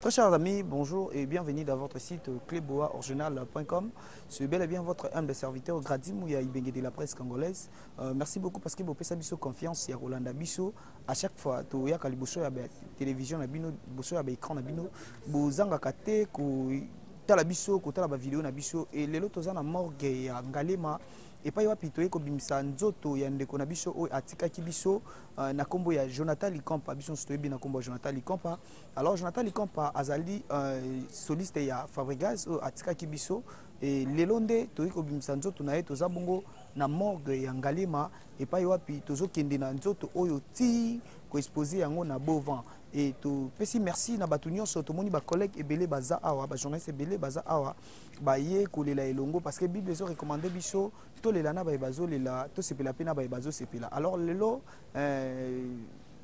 Très chers amis, bonjour et bienvenue dans votre site clubboaoriginal.com. C'est bel et bien votre humble serviteur Gradimouya Ibenge de la presse congolaise. Euh, merci beaucoup parce que vous avez biso confiance ya Rolanda Bisso. À chaque fois, tu as liboso ya télévision na bino, liboso ya écran na bino, bozanga kate ko tala biso, ko tala ba vidéo na biso et lelo toza na morgue ya Ngalema epai wapi toyei kobimisa nzoto ya ndeko na biso oyo atikaki biso euh, na nkombo ya jonathan likampa biso nyonso toyebi na nkombo ya jonathan likampa Alors Jonathan Likampa azali euh, soliste ya Fabregas oyo atikaki biso e lelo nde toyei kobimisa nzoto na ye toza bongo na morgue ya Ngalema epai wapi tozokende na nzoto oyo ti koexpose yango na beau vent e topesi merci na bato nyonso tomoni bacollègue ebele baza awa bajournaliste ebele baza awa baye kolela elongo parce que bible ezo recommande biso tolela na baye bazolela tosepela mpe na baye bazosepela alors lelo euh,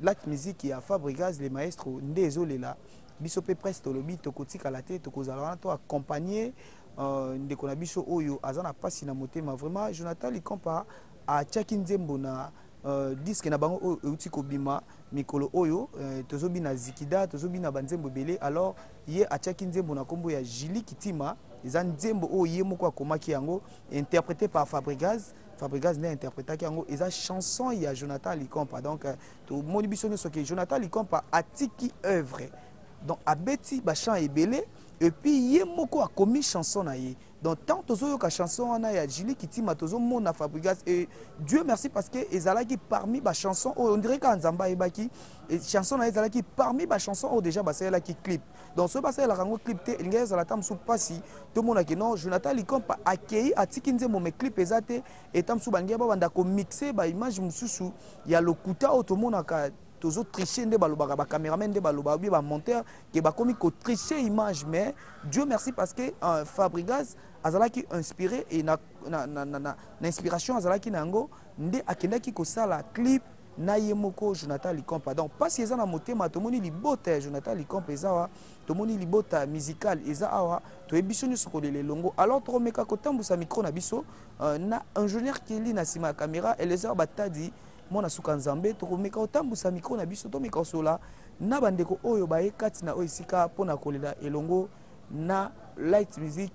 black musique ya fabrigaz le maestro nde ezolela biso mpe presse tolobi tokotikala te tokozala wana to accompagne euh, ndeko na biso oyo aza na mpasi na motema vraiment jonathan likampa atiaki nzembo na euh, diske na bango oyo euti kobima mikolo oyo euh, tozobina zikida tozobina banzembo ebele alors ye atiaki nzembo na nkombo ya jili kitima eza nzembo oyo ye moko akomaki yango interprété par fabrigaz Fabrigaz nde interpretaki yango eza chanson ya Jonathan Likompa donc euh, tomoni biso nyonso ke Jonathan Likompa atiki œuvre donc abeti bachant ebele epuis ye moko akomi chanson na ye donc ntango tozoyoka chanson wana ya julie kitima tozomona fabrigas e dieu merci parce que ezalaki parmi bachanson oyo ondire kaka nzambe ayebaki chanson na ye ezalaki parmi bachanson oyo déjà basalelaki clip donc soki basalelaka yango clip te elingaki ezala ata mosusu mpasi tomona ke non jonathan likompa akei atiki nzembo me clip eza te eta mosusu balingaki babanda komixe baimage mosusu ya lokuta oyo tomonaka tozo tricher nde balobaka bacameraman nde balobaka bie bamonteur ke bakomi kotricher image mais dieu merci parce que euh, fabrigas azalaki inspiré e na, na, na, na, na, na inspiration azalaki na yango nde akendaki kosala clip na ye moko jonathan licompe pardon mpasi eza na motema tomoni libota ya jonathan licompe eza awa tomoni libota musical eza awa toyebi biso nyonso kolela elongo alors tokomeka kotambwisa micro na biso euh, na ingénieur keli na nsima ya caméra elezar batadi mwana suka nzambe tokomeka kotambwisa micro na biso tomeka kosola na bandeko oyo baye kati na oyo esika mpo na kolela elongo na light music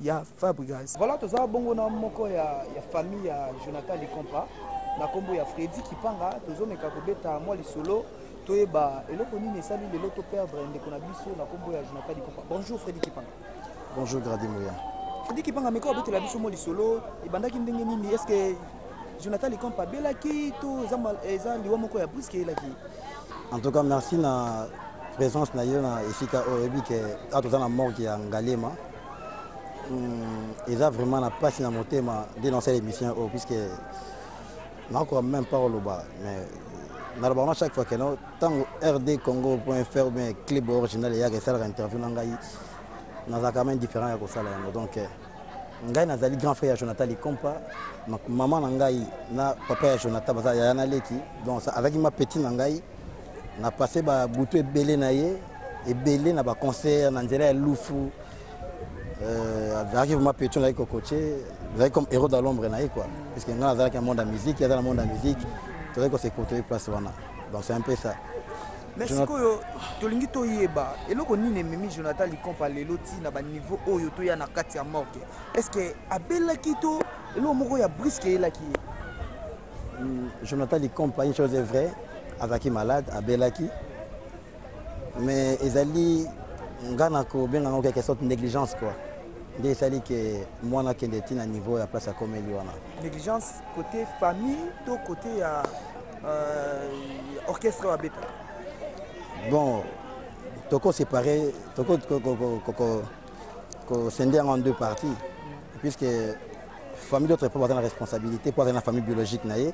ya fabrigas voilà toza bongo na moko ya, ya famille ya jonathan licompa na nkombo ya fredi kipanga tozomeka kobeta mwa lisolo toyeba eloko nini esali lelo to perdre ndeko na biso na nkombo ya jonathan licompa bonjour fredi kipanga bonjour gradi moya fredi kipanga meka obetela biso mwa lisolo ebandaki ndenge nini est ce que jonathan licompa abelaki to eza liwa moko ya briske eyelaki en tout cas merci na présence na yo na esika oyo oyebi ke awa toza na morgue ya ngalema Hmm, eza vraiment na mpasi na motema nde nasala émission oyo oh, puisque nakoka même pas koloba mais nalobaka na chaque fois kena ntango rd congo point fr bien clib original eyaka esalaka interview na ngai nazalaka même différent ya kosala yango donc eh, ngai nazali grand frère ya jonathan likompa mama na ngai na papa ya jonathan baza yaya na leki donc azalaki ma petit na ngai na passe babutu ebele na ye ebele na baconcert na nzela ya lufu euh, azalaki vraiment petion nazalaki kokoce azalaki comme héros de l'ombre na ye quoi puisque ngai nazalaki na monde ya musique aza na monde ya musique tozalaki kosekotoye place wana donc c'est un peu ça mais sikoyo tolingi toyeba eloko nini ememi jonathan likompa lelo ti na baniveau oyo toya na kati ya morke est ce que abelaki to eloko moko ya briske eyelaki ye Hmm, Jonathan Likompa, une chose est vraie, azalaki malade, abelaki. Mais ezali nga na kobenga yango quelque sorte négligence quoi. nde esali ke mwana akende ti na niveau ya place ya komeli wana négligence côté famille to côté ya euh, orchestre oyo abetaka bon toko séparé toko kosende yango en deux parties puisque famille d'autre epa baza na responsabilité mpo azali na famille biologique na ye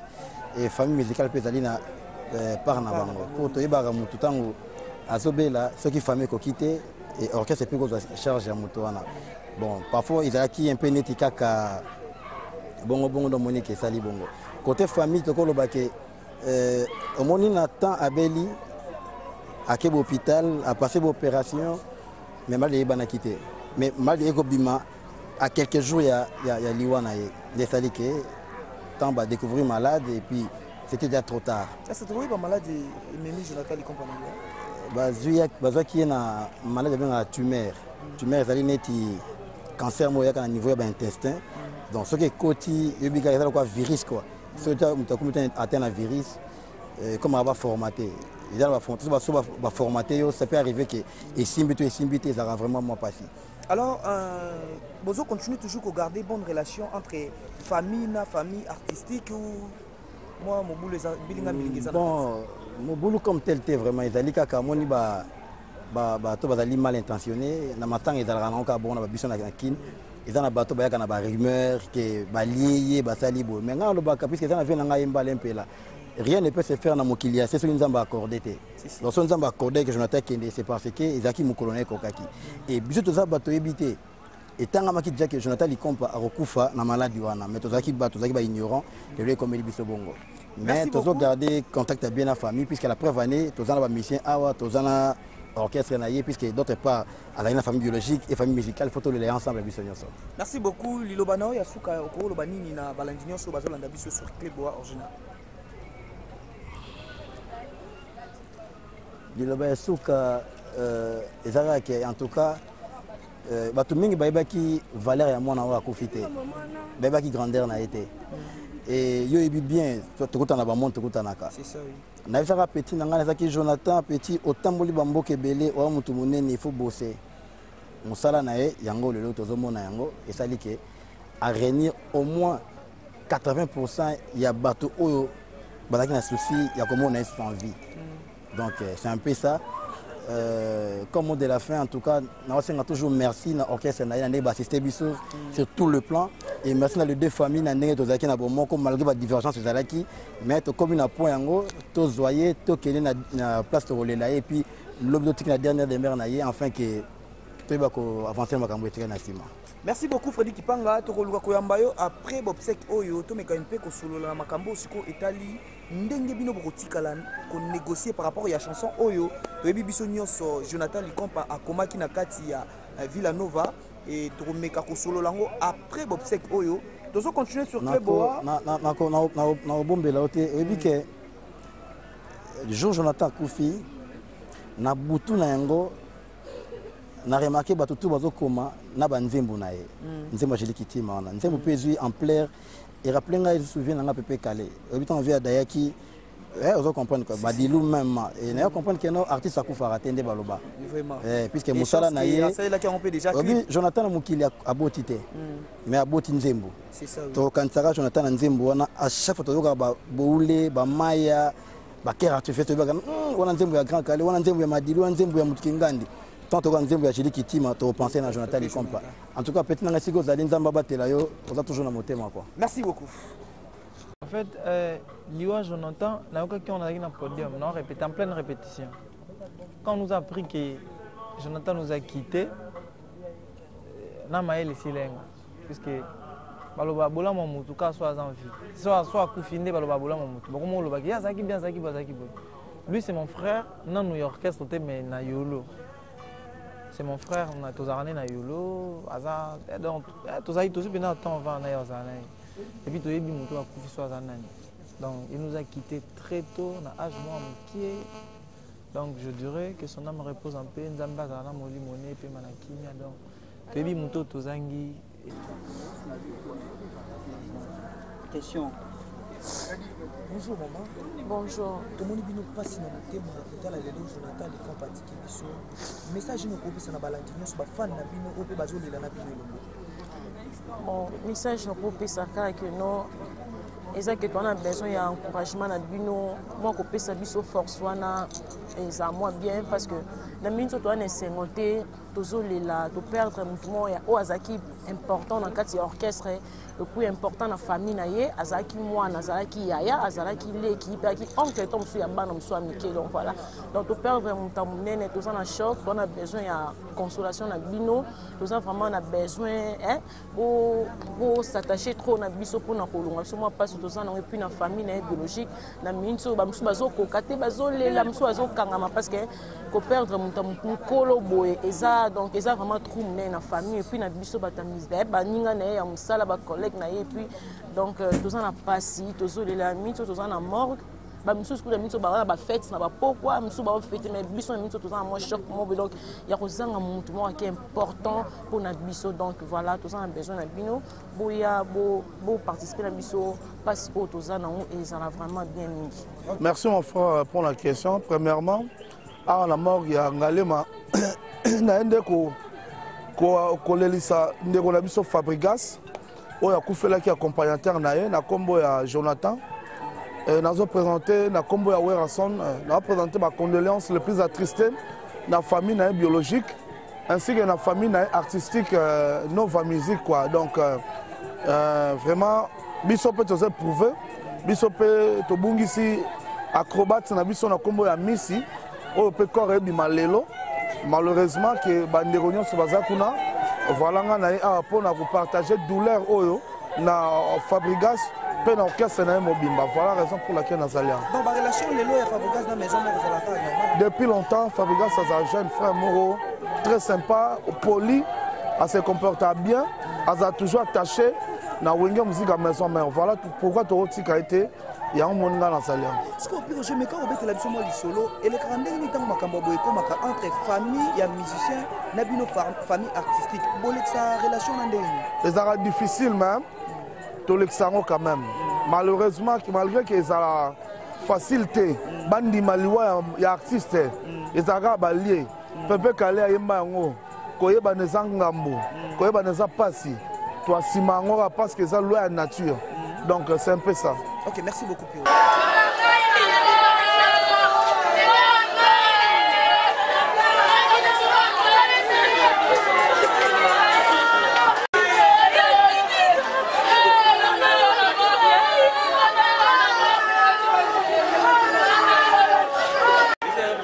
e famille musicale mpe ezali na euh, part na bango mpo toyebaka motu ntango azobela soki famille ekoki te e orchestre epe kozwa charge ya moto wana bon parfois ezalaki un peu neti kaka bongo bongo ndomonike esali bongo côté famille tokoloba ke Euh, omoni na temps abeli ake bohôpital apasse boopération mais maladi eyebanaki te mais maladi ekobima à quelques jours ya, ya, ya liwa na ye nde esali ke temps badécouvrir malade et puis c'était déjà trop tard bazwaki ye na maladi abengaka tumeur tumeur ezali neti cancer moko eyaka na niveau ya baintestin donc soki ekoti yobika eza lokwa virus quoi soki moto akomi ata na virus eh, comme aba formaté eza na baso baformate yo ça peut arriver ke esimbi to esimbi te ezalaka vraiment mwa mpasi alors euh, bozo continue toujours kogarde bonne relation entre famille na famille artistique ou mwa mobulu bilinga bilinga eza bon mobulu comme tel te vraiment ezali kaka amoni ba bato bazali mal intentionne na matanga ezalaka nango kaka bongo na babiso na kin eza na bato bayaka na barumeur ke balie ye basali boye mai ngai alobaka puiske eza na vie na ngai mbala mpela rien ne peut se faire na mokili ya se soki nzambe accorde te donc soki nzambe accorde ke jonathan kende c'est parce que ezalaki mokolo na ekokaki e biso toza bato oyebi te etangamaki déjà que Jonathan Likompa akokufa na maladi wana mais tozalaki ba tozalaki ba ignorant lelo ekomeli biso bongo mais tozo garder contact ya bien na famille puisque la preuve année toza na ba musiciens awa toza na orchestre na ye puisque d'autre part azali na famille biologique et famille musicale faut tolela ensemble biso nyonso merci beaucoup liloba na yo ya suka okoloba nini na balandi nyonso bazolanda biso sur clé boa original liloba ya suka euh, ezalaki en tout cas Euh, bato mingi bayebaki valeur ya mwana oyo akufi te bayebaki grandeur na ye te e yo oyebi bien tokutana na bamoni tokutanaka nayebisaka petit na ngai nazalaki jonathan petit otamboli bamboka ebele oya motu monene ifo bose mosala na ye yango lelo tozomona yango esali ke arenir au moins 80 pourcent ya bato oyo bazalaki na souci ya komona ye sans vie mm. Donc euh, c'est un peu ça. Euh, comme mot de la fin, en tout cas, naosenga toujours merci na orchestre na yende bassiste biso sur tout le plan et merci na les deux familles na ndenge tozalaki na bomoko malgré ba divergence ezalaki mais tokomi na point yango tozoye tokende na, na place tokolela ye et puis lobi totiki na dernière demeure na ye enfin que toyeba koavancer makambo etika na nsima merci beaucoup fredi kipanga tokoluka koyamba yo après bobsec oyo tomeka mpe kosolola na makambo oyo sikoyo etali ndenge bino bokotikala konégocier par rapport ya chanson oyo toyebi biso nyonso jonathan likompa akomaki na kati ya euh, villa nova e tokomeka kosolola yango après bobsec oyo tozo continuer sur cleboa nakobombela yo te oyebi ke hmm. jour jonathan akufi na butu na yango na remarke bato tu bazokoma na banzembo na ye hmm. nzembo ya jeli kitima wana nzembo mpe hmm. ezwi ampleur e rappeler ngai lisusu vie na ngai pepe kale oyebi ntango vie ya dayaki Eh, ozo comprendre quoi badilu même et nayo comprendre que no artiste akufaka te nde baloba eh, puisque mosala na ye obi jonathan na mokili aboti te hmm. mais aboti nzembo tokanisaka jonathan na nzembo wana à chaque fois toyokaka baboule bamaya bakere artifice toyebaka hmm, wana nzembo ya grand kale wana nzembo ya madilu wana nzembo ya motuki ngandi tant toyoka nzembo ya jili kitima topense na jonathan likompa En tout cas, petit nanga siko zali nzamba batela yo, oza toujours na motema quoi. Merci beaucoup. En fait, euh, Liwa Jonathan, na yoka qui on a na podium, non répète en pleine répétition. Quand on nous a appris que Jonathan nous a quitté, euh, na maël silenga puisque baloba bolama mutu ka soit en vie soit soit akufi nde baloba bolama mutu bakoma olobaki ye azalaki bien azalaki boye azalaki boye lui c'est mon frère nanu ya orchestre te mais na yolo c'est mon frère tozalaka nde na yolo aza eh, donc eh, tozali tozwi mpenza temps vaa na ye ozala na ye epuis toyebi moto akufi so aza nani donc il nous a quitté très tôt na age mwa mokie donc je dirais que son âme repose en paix nzambe azala na molimo ne epema na kimia donc toyebi moto tozangi Question. Bonjour maman. Bonjour. Tomoni bino mpasi na motema kotala lelo Jonathan de Camp atiki biso. Message ino kopesa na balandi nyonso bafani na bino oyo mpe bazolela na bino elongo. Bon, message nakopesa kaka ke no eza ke toana besoin ya encouragement na bino mwa kopesa biso force wana eza mwa bien parce que na mingi nso toana esengo te tozolela toperdre motu moko ya oyo azalaki important na kati ya orchestre epuis important na famille na ye azalaki mwana azalaki yaya azalaki leki mpe azalaki oncle to mosusu ya bana mosusu ya mike donc voilà donc toperdre moto ya monene toza na choc toza na besoin ya consolation na bino toza vraiment na besoin eh, bosatache trop na biso mpona kolonga biso mwa mpasi toza nango epuis na famille na ye biologique na miniti oyo bamosusu bazokoka te bazolela mosusu bazokangama parce que koperdre moto ya mokolo boye eza donc eza vraiment trou monene na famille epuis na biso bato ya misdaye baninga na ye ya mosala bacollègue na ye epuis donc euh, toza na mpasi tozolela miniti oyo toza na morgue bamisusu kuna biso baza na bafete na bapokwa misusu baofete mai biso na biso toza na mwa choc mobe donc ya kozanga motu moko ake important mpo na biso donc voilà toza na besoin na bino boya boparticipe na biso mpasi oyo toza nango ezala vraiment bien mingi merci mon frère pour la question premièrement awa na morgue ya ngalema naye nde kolelisa ndeko na biso fabrigas oyo akufelaki accompagnateur na ye na nkombo ya jonathan eh, nazo présente na nkombo ya werrason eh, nazo présente bacondoléance le plus attriste na famille na ye biologique ainsi que na famille na ye artistique eh, nova musique quoi donc vraiment biso mpe toza éprouve biso mpe tobungisi acrobate na biso na nkombo ya misi oyo mpe corps ebima lelo malheureusement ke bandeko nyonso baza kuna voilà nga na ye awa mpo na kopartage douleur oyo na fabrigas mpe na orchestre na ye mobimba voilà raison pour laquelle nazali yango depuis longtemps fabrigas aza jeune frère moko très sympa poli ase comporta bien aza toujours attaché na wenge muzika maison mère voilà pourkoi tokotika ye te yango moni ngai nasali yango sikoyo piko jemeka kobetela biso mwa lisolo elekaka ndenge nini ntango makambo ya boye ekomaka entre famille ya musicien na bino famille artistique bolekisa relation na ndenge nini ezalaka difficile meme tolekisa yango quand même malheureusement malgré ke ezala facile te bandima liwa ya artiste mm. ezalaka balie mm. pepe kale ayemba yango koyebana eza ngambo koyebana eza mpasi toasima yango kaka parce que eza loi ya nature donc c'est un peu ça ok merci beaucoup Pio.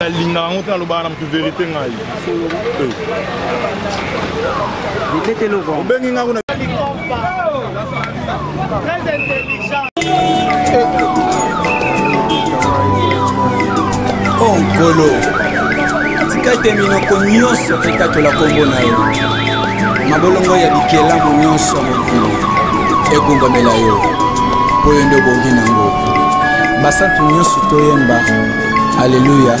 nalingaka yango te nalobaka na moto verité ngai obengi ngai kuna Oh, Nkolo, tika ete minoko nyonso ekatola nkombo na yo, mabolongo ya bikelamu nyonso ya mokili egumbamela yo, mpo yo nde obongi na yango. Basantu nyonso toyemba, Aleluya!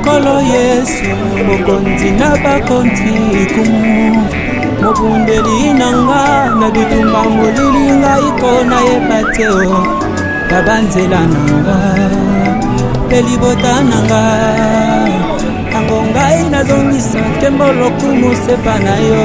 nkolo yesu mokonzi na bakonzi ikumu mobundeli na nga na bitumba molili ngai ko nayeba te o oh, na banzela na nga mpe libota na nga yango ngai nazongisa nkembo lokumu sepa na yo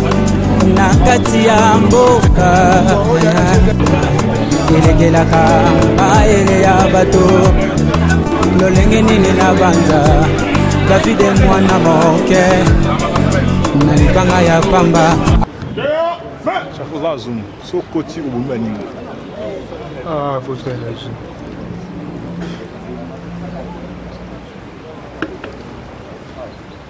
na kati ya mboka elekelaka mayele ya bato lolenge nini na banza davide mwana moke na libanga ya pamba lazum sokoti obomi baninga ah,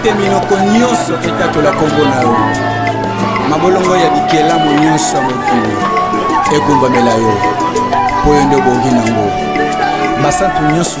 ete minoko nyonso etatola nkombo na yo mabolongo ya bikelamo nyonso ya mokili egumbamela yo mpo yo nde obongi nango basantu nyonso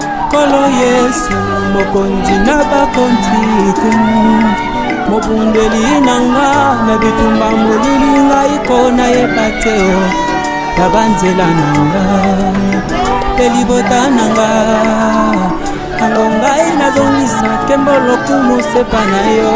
Kolo Yesu mokonzi na bakonzi mobundeli na nga na bitumba molili ngai ko nayeba te o oh. na banzela na nga mpe libota na nga yango ngai nazongisa kembo lokumu sepa na yo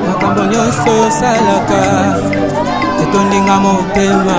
makambo nyonso osalaka etondinga motema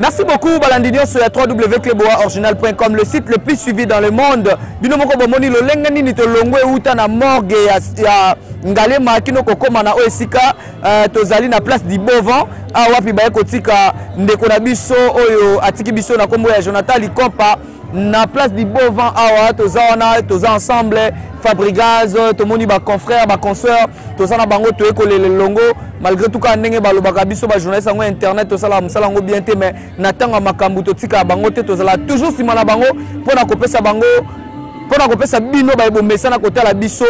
Merci beaucoup balandi nyonso ya www.cleboaoriginal.com le site le plus suivi dans le monde. Bino moko bomoni lolenge nini tolongwe uta na morgue ya, ya Ngalema kino kokoma na oyo esika uh, tozali na place du Bovan awa wapi baye kotika ndeko na biso oyo atiki biso na kombo ya Jonathan Likompa na place du beau vent awa toza wana toza ensemble fabrigaz tomoni baconfrère baconsoeur toza na bango toye kolela elongo malgré tout kaka ndenge balobaka biso bajournaliste yango internet tosalaka mosala yango bien te mais na ntango ya makambo totikaka bango te tozala toujours nsima na bango mpo na kopesa bango mpo na kopesa bino baye bomesana kotala biso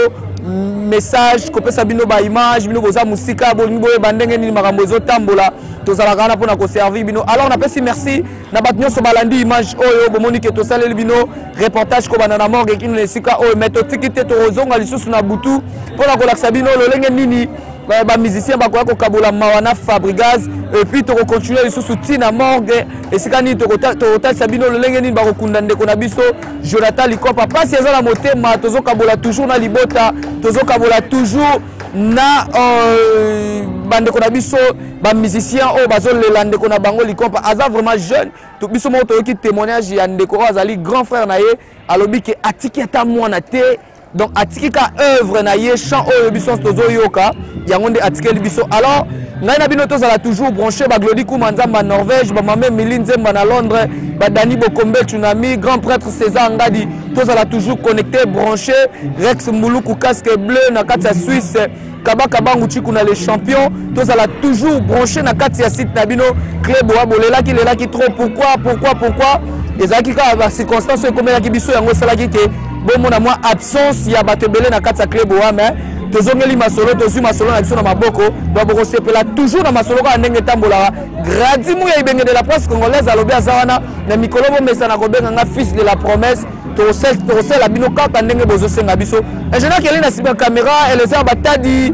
message kopesa bino baimage bino boza mosika bolingi boyeba ndenge nini makambo ezotambola tozalaka wana mpo na koservir bino alors napesi merci na bato nyonso balandi image oyo bomoni ke tosaleli bino reportage kobanda na morgue kino na esika oyo mai totiki te tokozonga lisusu na butu mpo na kolakisa bino lolenge nini eh, bamusicien bakoya kokabola mawa na fabrigaz epuis tokocontinue lisusu ti na morgue esika nini tokotalisa bino lolenge nini bakokunda ndeko na biso jonathan likopa mpasi eza na motema tozokabola toujours na libota tozokabola toujours na euh, bandeko na biso ba musicien oyo bazolela ndeko na bango likompa aza vraiment jeune to, biso moko toyoki témoignage ya ndeko oyo azali grand frère na ye alobi ke atiki ata mwana te donc atiki ka œuvre na ye chant oyo biso nyonso tozoyoka yango nde atikeli biso alors ngai na bino tozala toujours branché baglodi kuma nzambe ya norvège bamama emili nzemba na londres badani bokombe tsunami grand prêtre césar ngadi tozala toujours connecté branché rex mbuluku casque bleu na kati ya suisse kabaka bangu chikuna le champion tozala toujours branché na kati ya site na bino club oya bolelaki lelaki trop pourquoi pourquoi pourquoi ezalaki kaka bacirconstance oyo ekomelaki biso yango esalaki te bomona mwa absence ya bato ebele na kati ya club oya mais tozongeli masolo tozwi masolo na biso na maboko donc bokosepela toujours na masolo kaka ndenge etambolaka gradi muya ibenge de la presse congolaise alobi aza wana na mikolo bomesana kobenga nga fils de la promesse tokosala bino kaka ndenge bozosenga biso ingénieur kele na nsima ya caméra elezer batadi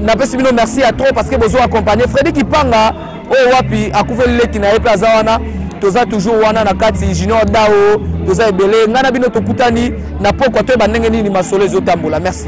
napesi bino merci ya trop parce que bozo accompagne fredi kipanga oyo wapi akufeli leki na ye mpe aza wana toza toujours wana na kati junior dao toza ebele ngai na bino tokutani na pokwa toyeba ndenge nini masolo ezotambola merci